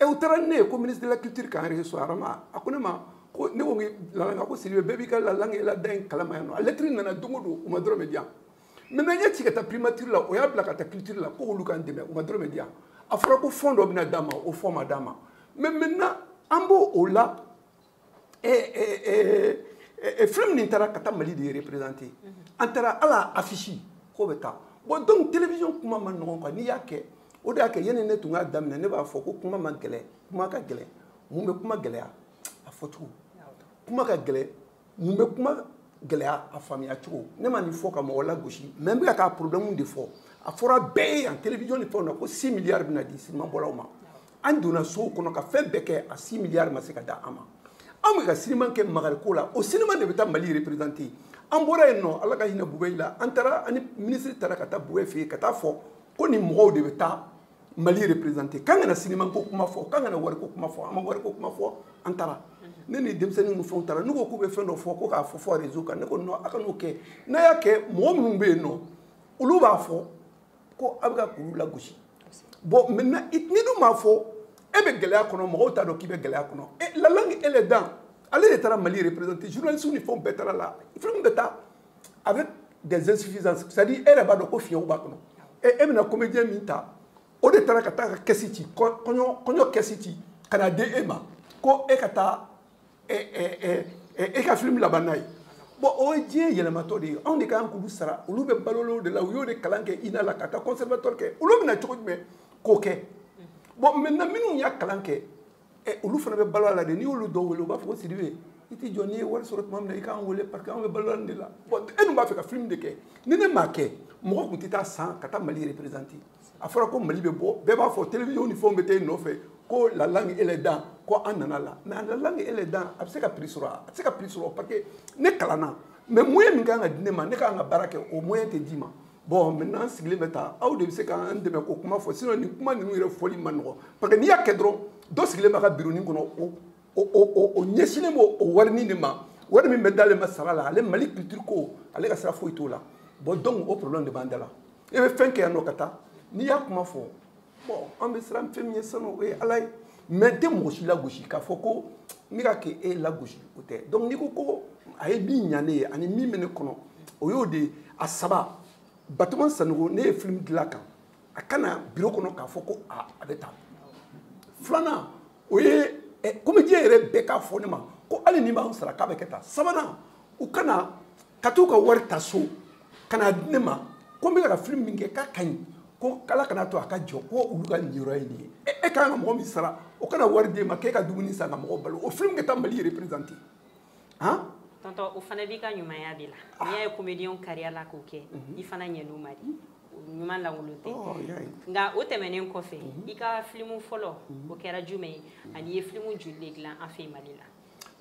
ɛ u taara ni ne ye ko ministre de la culture k'an recevoir rama a ko ne ma ko ne ko la langue ko sidibe bɛɛ b'i ka la langue et les dents in kalama yan nɔ a lɛtiri nana don o don u ma dɔrɔmɛ di yan maintenant n y'a ci ka taa primature la o y'a bila ka taa culture la ko olu k'an dɛmɛ u ma dɔrɔmɛ di yan a fɔra ko fond dɔ bɛna d'an ma o fond ma d'an ma mais maintenant an b'o o la film nin taara ka taa mali de représenter an taara à l'affiche k'o bɛ taa bon donc télévision kuma man nɔgɔn quoi n'i y'a kɛ o de y'a kɛ yanni ne tun k'a daminɛ ne b'a fɔ ko kuma man gɛlɛn kuma ka gɛlɛn mun bɛ kuma gɛlɛya a fɔcogo kuma ka gɛlɛn mun bɛ kuma gɛlɛya a faamuya cogo ne ma nin fɔ ka mɔgɔ lagosi mais n bɛ ka k'a problème de fɔ a fɔra bɛɛ ye yan télévision ni fɛnw na ko 6 milliards bɛna di sinimabɔlaw ma an donna sow kɔnɔ ka fɛn bɛɛ kɛ a six milliard ma se ka di an ma an bɛ ka siniman kɛ makari ko la o siniman de bɛ taa mali représenter an bɔra yen nɔ ala ka hinɛ bubɛyi la an taara ani minisiri taara ka taa bubɛyi fɛ yen ka taa fɔ ko nin mɔgɔw de bɛ taa mali représenter k'an kana siniman ko kuma fɔ k'an kana wari ko kuma fɔ an ma wari ko kuma fɔ an taara ne ni denmisɛnnin ninnu fɛnw taara n'u ko k'u bɛ fɛn dɔ fɔ ko k'a fɔ fɔ réseau kan ne ko non a kan'o kɛ n'a y'a kɛ mɔgɔ minnu bɛ yen nɔ olu b'a fɔ ko a bɛ ka k'olu lagosi bon maintenant n'i dun m'a fɔ e bɛ gɛlɛya kɔnɔ mɔgɔw t'a dɔn k'i bɛ gɛlɛya kɔnɔ e la langue et les dents ale de taara mali représenter journaliste ni fɛnw bɛɛ taara la film bɛ taa avec des insuffisances c'est à dire e yɛrɛ b'a dɔn ko fiɲɛw b'a kɔnɔ e e bɛna comédien min ta o de taara ka taa ka kɛsi ci kɔɲɔ kɔɲɔ kɛsi ci ka na di e ma ko e ka taa e ka film laban n'a ye bɔn o ye diɲɛ yɛlɛmatɔ de ye anw de ka kan k'olu sara olu bɛ balo o de la u y'o de kalan kɛ ina la ka taa conservatoire kɛ olu bɛna cogo jumɛn k'o kɛ bɔn maintenant minnu y'a kalan kɛ olu fana bɛ balo a la de n'i y'olu dɔw wele u b'a fɔ ko sidibe i tɛ jɔ n'i ye wari sɔrɔ tuma min na i k'an wele parce que anw bɛ balo nin de la bɔn e dun b'a fɛ ka film de kɛ ni ne m'a kɛ mɔgɔ tun tɛ taa sa ka taa mali représenter a fɔra ko mali bɛ bɔ bɛɛ b'a fɔ télévision ni fɛnw bɛ taa i nɔfɛ ko la langue est dan ko an nana la mais la langue est dan a bɛ se ka prix sɔrɔ a tɛ se ka prix sɔrɔ parce que ne kalanna mais moyen min ka kan ka di ne ma ne ka kan ka baara kɛ o moyen tɛ d'i ma bon maintenant n sigilen bɛ taa aw de bɛ se k'an dɛmɛ k'o kuma fɔ sinon nin kuma ninnu yɛrɛ fɔli man nɔgɔn parce que n'i y'a kɛ dɔrɔn dɔ sigilen b'a ka bironin kɔnɔ o o o o ɲɛsinnen b'o o warinin de ma wari min bɛ d'ale ma sara la ale mali culture ko ale ka sira foyi t'o la bon donc o problème de b'an da la i bɛ fɛn kɛ yan nɔ ka taa n'i y'a kuma fɔ bɔn an bɛ siran fɛn min ɲɛ sa o ye ala ye mais n tɛ mɔgɔ si lagosi k'a fɔ ko ne ka kɛ e lagosi o tɛ donc n'i ko ko a ye min ɲa ne ye ani min bɛ ne kɔnɔ o y'o de ye a saba batoma sanogo ne ye film dilan canal ka na biro kɔnɔ k'a fɔ ko a a bɛ taa filanan o ye eh, comédien yɛrɛ bɛɛ k'a fɔ ne ma ko hali n'i m'an sara k'a bɛ kɛ ta sabanan u ka na ka t'u ka wari ta so ka n'a di ne ma ko n bɛ ka film min kɛ k'a ka ɲi ko ala kana to a ka jɔ ko olu ka niyɔrɔ ye nin ye e ka kan ka mɔgɔ min sara o ka na wari d'e ma k'e ka dumuni san ka mɔgɔ balo o film kɛ taa mali représenter han tonton o fana b'i ka ɲumanya de la ah. n'i y'a ye comédien kariya la k'o kɛ mhm. i fana ɲɛn'u ma de ɲuman lankolon tɛ oh, nka o tɛmɛnen kɔfɛ mhm. i ka filimu fɔlɔ mhm. o kɛra jumɛn ye ani i ye filimu joli de dilan an fɛ mali la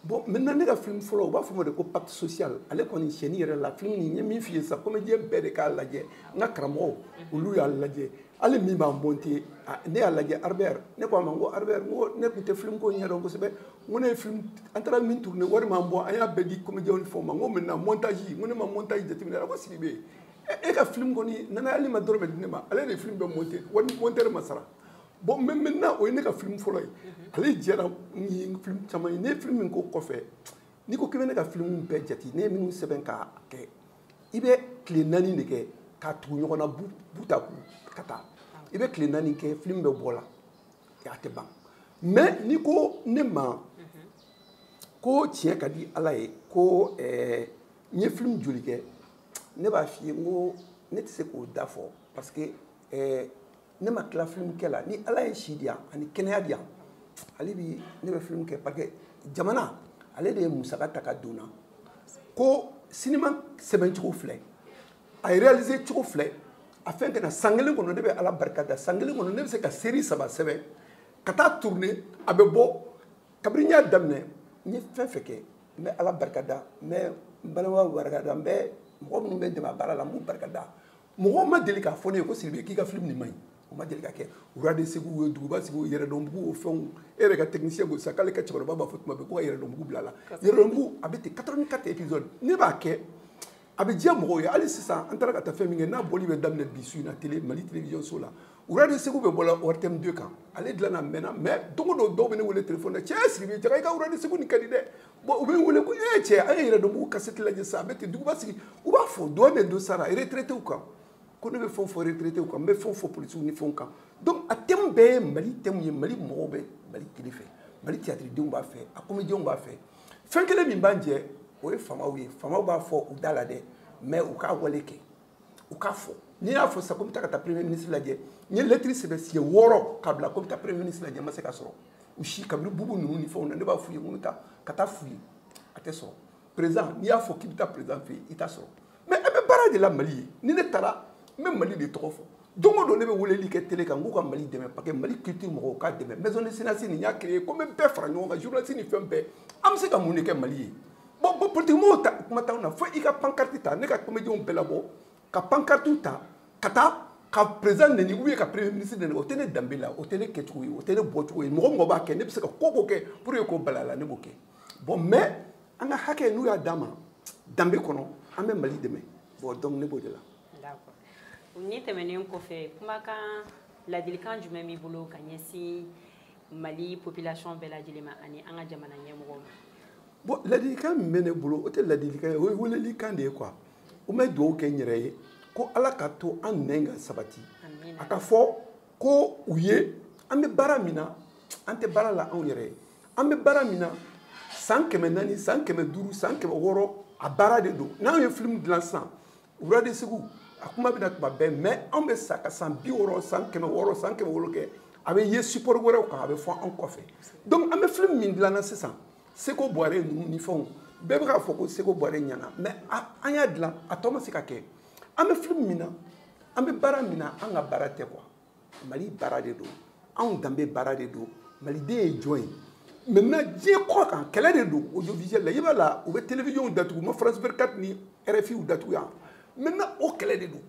bon maintenant ne ka film fɔlɔ u b'a fɔ ma de ko pacte social ale kɔni sɛni yɛrɛ la film n ye min f'i ye sisan comédien bɛɛ de k'a lajɛ n ka karamɔgɔw olu y'a lajɛ hali min b'a monter ne y'a lajɛ albert ne ko a ma n ko albert n ko ne tun tɛ film ko ɲɛdɔn kosɛbɛ n ko ne ye film an taara min tourner wari m'an bɔ an y'a bɛɛ di comédienw ni fɛnw ma n ko maintenant montage n ko ne ma montage jateminɛ a ko sigi bɛ yen e ka film kɔni nana hali i ma dɔrɔmɛ di ne ma ale de ye film bɛɛ monter hali monteur ma sara bon mais maintenant o ye ne ka film fɔlɔ ye ale jɛra ni film caman ye ne ye film min k'o kɔfɛ n'i ko k'i bɛ ne ka film bɛɛ jate ne ye minnu sɛbɛn k'a kɛ i bɛ tile naani de kɛ k'a tugu ɲɔgɔn na bout à bout ka taa i bɛ tile naani kɛ film bɛ bɔ la a tɛ ban mais n'i ko ne ma ko tiɲɛ ka di ala ye ko eh, n ye film joli kɛ ne b'a f'i ye n ko ne tɛ se k'o da fɔ parce que eh, ne ma tila film kɛ la ni ala ye si di yan ani kɛnɛya di yan hali bi ne bɛ film kɛ parce que jamana ale de ye musaka ta ka don na ko sinima sɛbɛn cogo filɛ a ye réaliser cogo filɛ a fɛn kɛnɛ san kelen kɔnɔ ne bɛ ala barika da san kelen kɔnɔ ne bɛ se ka seri saba sɛbɛn ka taa tourner a bɛ bɔ kabini n y'a daminɛ n ye fɛn o fɛn kɛ n bɛ ala barika da n bɛ n balimaw barika da n bɛ mɔgɔ minnu bɛ n dɛmɛ a baara la n b'u barika da mɔgɔ ma deli k'a fɔ ne ye ko sidibe k'i ka film nin man ɲi o ma deli ka kɛ rois de ségou ye duguba sigi yɛrɛdɔnbugu o fɛnw e yɛrɛ ka technicien ko sa k'ale ka cɛkɔrɔba b'a fɔ tuma bɛɛ ko ka yɛrɛdɔnbugu bila la yɛrɛdɔnbugu a bɛ ten 84 épisode ne b'a kɛ a bɛ diya mɔgɔw ye hali sisan an taara ka taa fɛn min kɛ n'a bɔli bɛ daminɛ bi su in na tele mali télévision so la rois de ségou bɛ bɔ la ortm 2 kan ale dilannen mɛnna mais don o don dɔw bɛ ne wele telefɔni na cɛ sidibe jaa i ka rois de ségou nin ka di dɛ bon u bɛ wele ko ee cɛ an ye yɛrɛdɔnbugu kasɛti lajɛ sa a bɛ ten duguba sigi u b'a fɔ dɔ de don sara retraitew kan ko ne bɛ fɛn fɔ retraitew kan n bɛ fɛnw fɔ polisiw ni fɛnw kan donc a thème bɛɛ ye mali thème ye mali mɔgɔw bɛ mali culture fɛ mali tiyatiridenw b'a fɛ a komediyɛnw b'a fɛ fɛn kelen min b'an jɛ o ye faamaw ye faamaw b'a fɔ u da la dɛ mais u k'a wale kɛ u k'a fɔ n'i y'a fɔ sisan ko n bɛ taa ka taa premier ministre lajɛ n ye lɛtiri sɛbɛn siɲɛ wɔɔrɔ ka bila ko n bɛ taa premier ministre lajɛ n ma se ka sɔrɔ u si kabini bubu ninnu ni fɛnw na ne b'a f'u ye ko n bɛ taa ka taa f'u ye a tɛ sɔrɔ président n'i y'a fɔ k'i bɛ taa président fɛ yen i t'a sɔrɔ mais an bɛ baara de la mali ye ni ne taara n bɛ mali de tɔgɔ fɔ don o don ne bɛ weleli kɛ tele kan k'u ka mali dɛmɛ parce que mali culture mɔgɔw k'a dɛmɛ maison des cinéastes ne y'a créé ko n bɛ bɛɛ fara ɲɔgɔn kan journaliste ni fɛn bɛɛ an bɛ se ka mun de kɛ mali ye bon bon politikimɔgɔw ta kuma t'anw na fo i ka pankarti ta ne ka komediyɛnw bɛɛ labɔ ka pankartiw ta ka taa ka président neni ou bien ka premier ministre neni o tɛ ne danbe la o tɛ ne kɛcogo ye o tɛ ne bɔcogo ye mɔgɔ o mɔgɔ b'a kɛ ne bɛ se ka ko o ko kɛ pour que k'o bala la ne b'o kɛ bon mais an ka hakɛ n'u y'a d'an ma danbe kɔnɔ an bɛ mali dɛmɛ bon donc ne b'o de la. d'accord nin tɛmɛnen kɔfɛ kumakan ladilikan jumɛn b'i bolo ka ɲɛsin. mali population bɛɛ lajɛlen ma ani an ka jamana ɲɛmɔgɔw ma bon ladilikan min bɛ ne bolo o tɛ ladilikan ye o ye welelikan de ye quoi n bɛ dugawu kɛ n yɛrɛ ye ko ala k'a to an nɛn ka sabati a ka fɔ ko u ye an bɛ baara min na an tɛ baara la anw yɛrɛ ye an bɛ baara min na san kɛmɛ naani san kɛmɛ duuru san kɛmɛ wɔɔrɔ a baara de don n'anw ye filimu dilan sisan rois de ségou a kuma bɛ na tuma bɛɛ mais anw bɛ sa ka san bi wɔɔrɔ san kɛmɛ wɔɔrɔ san kɛmɛ wɔɔrɔ kɛ a bɛ ye support wɛrɛw kan a bɛ fɔ anw kɔfɛ donc an bɛ filimu min dilan na sisan seko buware ninnu ni fɛnw bɛɛ bɛ k'a fɔ ko seko buware ɲana mais an y'a dilan a tɔ ma se ka kɛ an bɛ filimu min na an bɛ baara min na an ka baara tɛ quoi mali baara de don anw danbe baara de don maliden ye jɔn ye maintenant diɲɛ kɔ kan kɛlɛ de don audiovisuel la i b'a la u bɛ télévisionw datugu ma france 24 ni rfiw datugu yan maintenant o kɛlɛ de don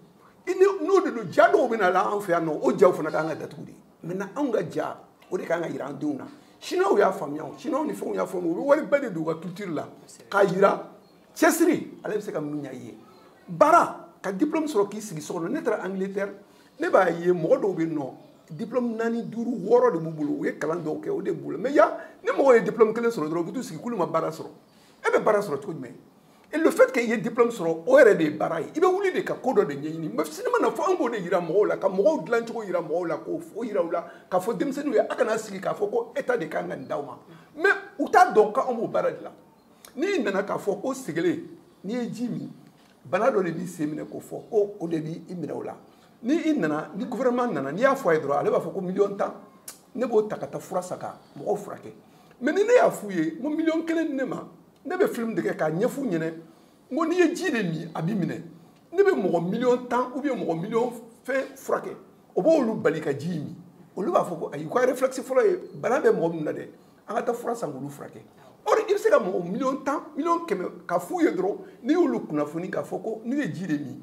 i ni n'o de don ja dɔw bɛ na la an fɛ yan nɔ o jaw fana ka kan ka datugu de maintenant anw ka ja o de ka kan ka jira an denw na chinois y'a faamuya o chinois ni fɛnw y'a faamuya u bɛ wari bɛɛ de don u ka culture la k'a jira cɛsiri ale bɛ se ka mun ɲa i ye baara ka diplôme sɔrɔ k'i sigi so kɔnɔ ne taara angleterre ne b'a ye mɔgɔ dɔw bɛ nɔ diplôme naani duuru wɔɔrɔ de b'u bolo u ye kalan dɔw kɛ o de b'u la mɛ yan ni mɔgɔ ye diplôme kelen sɔrɔ dɔrɔn u bɛ t'u sigi k'olu ma baara sɔrɔ e bɛ baara sɔrɔ cogo jumɛn et le fait que i ye diplôme sɔrɔ o yɛrɛ de ye baara ye i bɛ wuli de ka ko dɔ de ɲɛɲini mɛ sinima na fɔ an k'o de yira mɔgɔw la ka mɔgɔw dilan cogo yira mɔgɔw la k'o o yira u la k'a fɔ denmisɛnninw ye a kana sigi k'a fɔ ko état de kan ka nin d'aw ma mɛ u t'a dɔn k'anw b'o baara de la n'i nana k'a fɔ ko sɛgɛlɛn n'i ye ji min bana dɔ de b'i sen minɛ k'o fɔ ko o de b'i i minɛ o la ni i nana ni gouvernement nana n'i y'a fɔ a ye dɔrɔn ale b'a fɔ ko miliyɔn tan ne b'o ta ka taa fura san ka mɔgɔw furakɛ mɛ ni ne y'a f'u ye n ko miliyɔn kelen di ne ma ne bɛ film de kɛ k'a ɲɛf'u ɲɛna n ko n'i ye ji de min a b'i minɛ ne bɛ mɔgɔ miliyɔn tan ou bien mɔgɔ miliyɔn fɛn furakɛ o b'olu bali ka ji min olu b'a fɔ ko ayi ko a réflexe fɔlɔ ye bana bɛ mɔgɔ min na dɛ an ka taa fura san k'olu furakɛ or i bɛ se ka mɔgɔ miliyɔn tan miliyɔn kɛmɛ ka f'u ye dɔrɔn n'i y'olu kunnafoni k'a fɔ ko n'u ye ji de min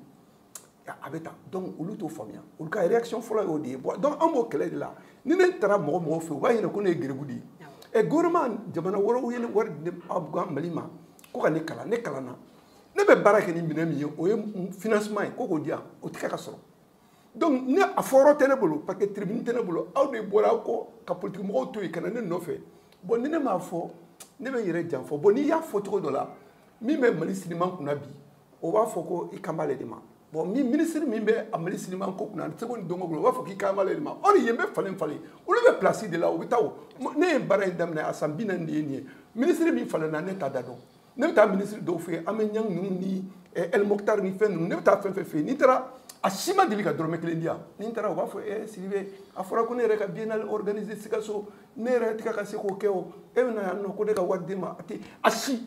a bɛ tan donc olu t'o faamuya olu ka réaction fɔlɔ y'o de ye bɔn donc an b'o kɛlɛ de la ni ne taara mɔgɔ mɔgɔ fɛ u b'a ɲɛna ko ne ye geribu de ye ɛ gouvernement jamana wɛrɛw ye ne wari di ne mali ma ko ka ne kalan ne kalanna ne bɛ baara kɛ ni minɛn min ye o ye financement ye ko k'o di yan o tɛ kɛ ka sɔrɔ donc ne a fɔyɔrɔ tɛ ne bolo parce que tribune tɛ ne bolo aw de bɔra aw kɔ ka politiki mɔgɔw to yen ka na ne nɔfɛ bon ni ne m'a fɔ ne bɛ n yɛrɛ janfa bon n'i y'a fɔ cogo dɔ la min bɛ mali siniman kunna bi o b'a fɔ ko i kan b'ale de ma bon min minisiri min bɛ a mali siniman ko kunna seko ni dɔnko bolo o b'a fɔ k'i kan b'ale de ma ɔri yen bɛ falen falen olu bɛ pilasi de la u bɛ taa o ne ye baara in daminɛ a san bi naani de ye nin ye minisiri min falenna ne t'a da dɔn ne bɛ taa minisiri dɔw fɛ yen an bɛ ɲɛn ninnu ni ɛlimokitari ni fɛn ninnu ne bɛ taa fɛn fɛn fɛ yen n'i taara a si ma deli ka dɔrɔmɛ kelen di yan ni n taara u b'a fɔ ɛ sidibe a fɔra ko ne yɛrɛ ka biennale organise sikaso ne yɛrɛ tɛ ka se k'o kɛ o e bɛ na yan nɔ ko ne ka wari d'e ma a tɛ a si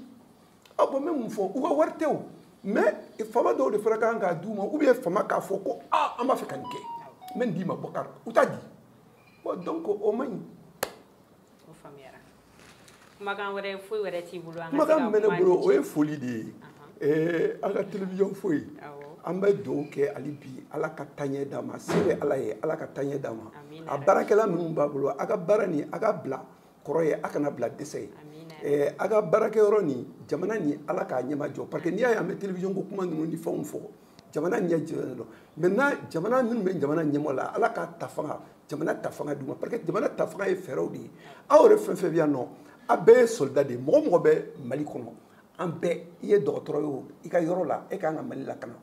a bɔn n bɛ mun fɔ u ka wari tɛ o mɛ faama dɔw de fana ka kan k'a d'u ma ou bien faama k'a fɔ ko aa an b'a fɛ ka nin kɛ n bɛ nin d'i ma bɔkari u t'a di bɔn donc o man ɲi o faamuyara kumakan wɛrɛ foyi wɛrɛ t'i bolo an ka se ka kuma kumakan min bɛ ne bolo o ye foli de ye ɛɛ an ka television foyi Awɔ. an bɛ dugawu kɛ hali bi ala ka taɲɛ d'a ma se bɛ ala ye ala ka taɲɛ d'a ma Amina. a baarakɛla minnu b'a bolo a ka baara nin a ka bila kɔrɔ ye a kana bila dɛsɛ ye Amina. ɛɛ a ka baarakɛyɔrɔ nin jamana nin ala k'a ɲɛmajɔ parce que n'i y'a ye an bɛ television ko kuma ninnu ni fɛnw fɔ jamana ɲɛ jɔlen don maintenant jamana minnu bɛ jamana ɲɛmaa la ala ka ta fanga jamana ta fanga d'u ma parce que jamana ta fanga ye fɛɛrɛw de ye aw yɛrɛ fɛn fɛn bɛ yan nɔ a bɛɛ ye soldat de ye mɔgɔ o mɔgɔ bɛ mali kɔnɔ an bɛɛ i ye dɔgɔtɔrɔ ye o i ka yɔrɔ la e ka kan ka mali lakana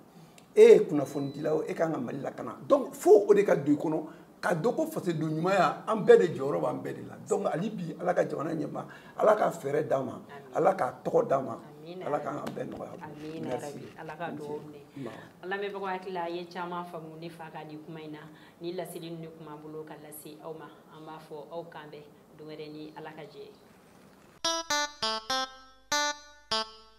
e ye kunnafonidila o e ka kan ka mali lakana donc fo o de ka don i kɔnɔ ka dɔn ko fasoden ɲumanya an bɛɛ de jɔyɔrɔ b'an bɛɛ de la donc hali bi ala ka jamana ɲɛmaa ala ka fɛɛrɛ d'a ma ala k'a tɔgɔ d'a ma ala k'an ka bɛɛ nɔgɔya ala ka dugawu minɛ an lamɛnbagaw hakili la a ye caman faamu ne fa ka nin kuma in na ni laseli ninnu de tun b'an bolo ka lase aw ma an b'a fɔ aw k'an bɛn don wɛrɛ ni ala ka jɛn ye